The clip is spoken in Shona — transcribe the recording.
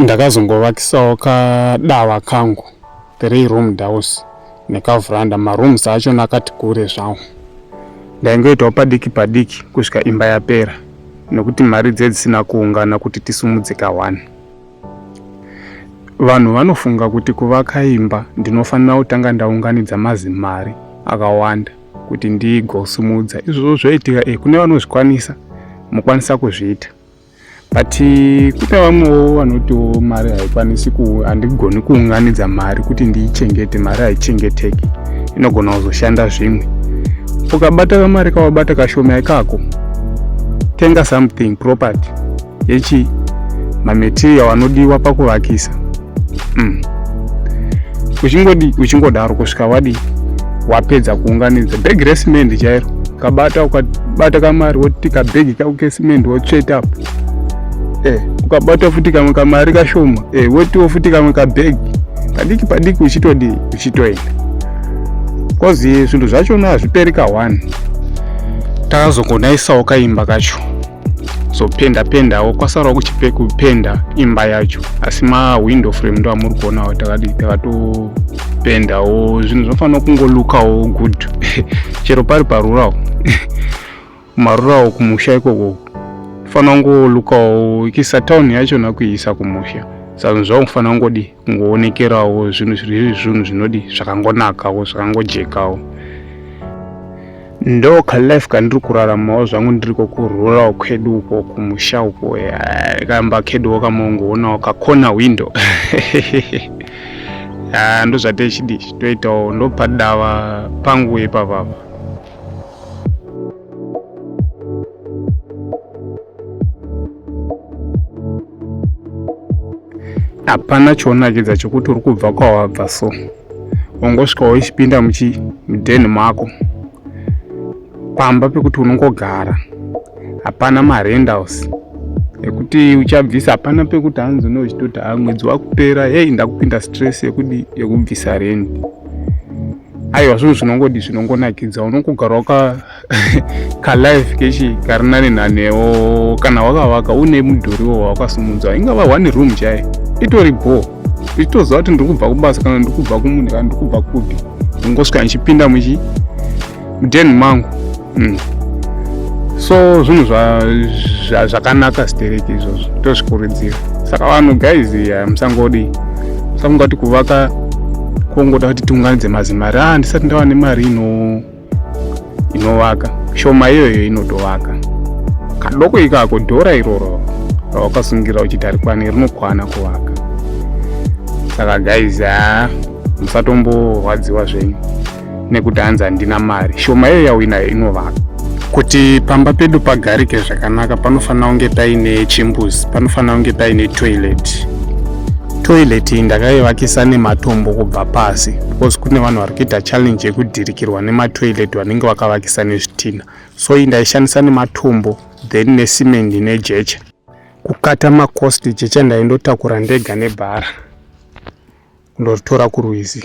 ndakazongovakisawo kadava kangu three room house nekavhuranda marooms acho nakati kure zvawo ndaingoitawo padiki padiki kusvika imba yapera nokuti mari dze dzisina kuungana kuti tisumudze kahwani vanhu vanofunga kuti kuvaka imba ndinofanira kutanga ndaunganidza mazimari akawanda kuti ndigosumudza izvozvo zvoitika e kune vanozvikwanisa mokwanisa kuzviita but kune vamwewo vanotiwo mari haikwanisi handigoni kuunganidza mari kuti ndiichengete mari haichengeteki inogona kuzoshanda zvimwe ukabata kamari kawabata kashoma ikako tenga something property yechi mamaterial anodiwa pakuvakisa mm. uchingodi uchingodaro kusvika wadi wapedza kuunganidza bhegi resimende chairo ukabata ukabata kamari woti kabhegi kako kesimende wotsveta apo eh, ukabata futi kamwe kamari kashoma eh, wotiwo futi kamwe kabhegi padiki padiki uchitodii uchitoenda bcause zvinhu zvachona hazviperi ka one takazogonaisawo kaimba kacho zopenda pendawo kwasarawo kuchipe kupenda imba yacho asi mawindow frame ndo amuri kuonawo takati takatopendawo zvinhu zvinofanira kungolukawo good chero pari parurawo marurawo kumusha ikoko fanira kungolukawo ikisa town yacho nakuiisa kumusha saka zvakufanira kungodi kungoonekerawo zvinhu zviri zvinhu zvinodi zvakangonakawo zvakangojekawo ndo kalife kandiri kuraramawo zvangu ndiriko kururawo kwedu uko kumusha uko kamba keduwo kamongowonawo kakona window ah, ndozvatechidi toitawo ndopadava pangu ipapapa hapana chonakidza chekuti uri kubva kwawabva so ungosvika waichipinda muchidheni mako pamba pekuti unongogara hapana marendals ekuti uchabvisa hapana pekuti hanzi une uchitoti ha ah, mwedzi wakupera hei ndakupinda stress yekudi yekubvisa rendi aiwa zvinhu zvinongodi zvinongonakidza unongogara waka kalife kechi kari nani nanewo kana wakavaka une mudhuriwo wawakasumudzwa ingava one room chai itori bho ichitoziva kuti ndiri kubva kubasa kana ndiri kubva kumunhu kana ndiri kubva kupi ndingosvika ndichipinda muchi mudhen mangu mm. so zvinhu zvakanaka stereki izvozvo tozvikurudzira saka vanhu guys eh, musangodi musangoti kuvaka kongoda kuti tiunganidze mazimari ah ndisati ndava nemari ino inovaka shoma iyoyo inotovaka kadoko ikako dhora iroro rawakasungira uchiti arikwani rinokwana kuvaka saka guys haa ah, musatomborwadziwa zvenyu nekuti hanzi handina mari shoma iyo yauinayo inovaka kuti pamba pedu pagarike zvakanaka panofanira kunge paine chimbuzi panofanira kunge paine toilet toilet iyi ndakaivakisa nematombo kubva pasi because kune vanhu vari kuita challenge yekudhirikirwa nematoilet vanenge vakavakisa nezvitina so iyi ndaishandisa nematombo then nesimendi nejecha kukata macost jecha ndaindotakura ndega nebhara kundoritora kurwizi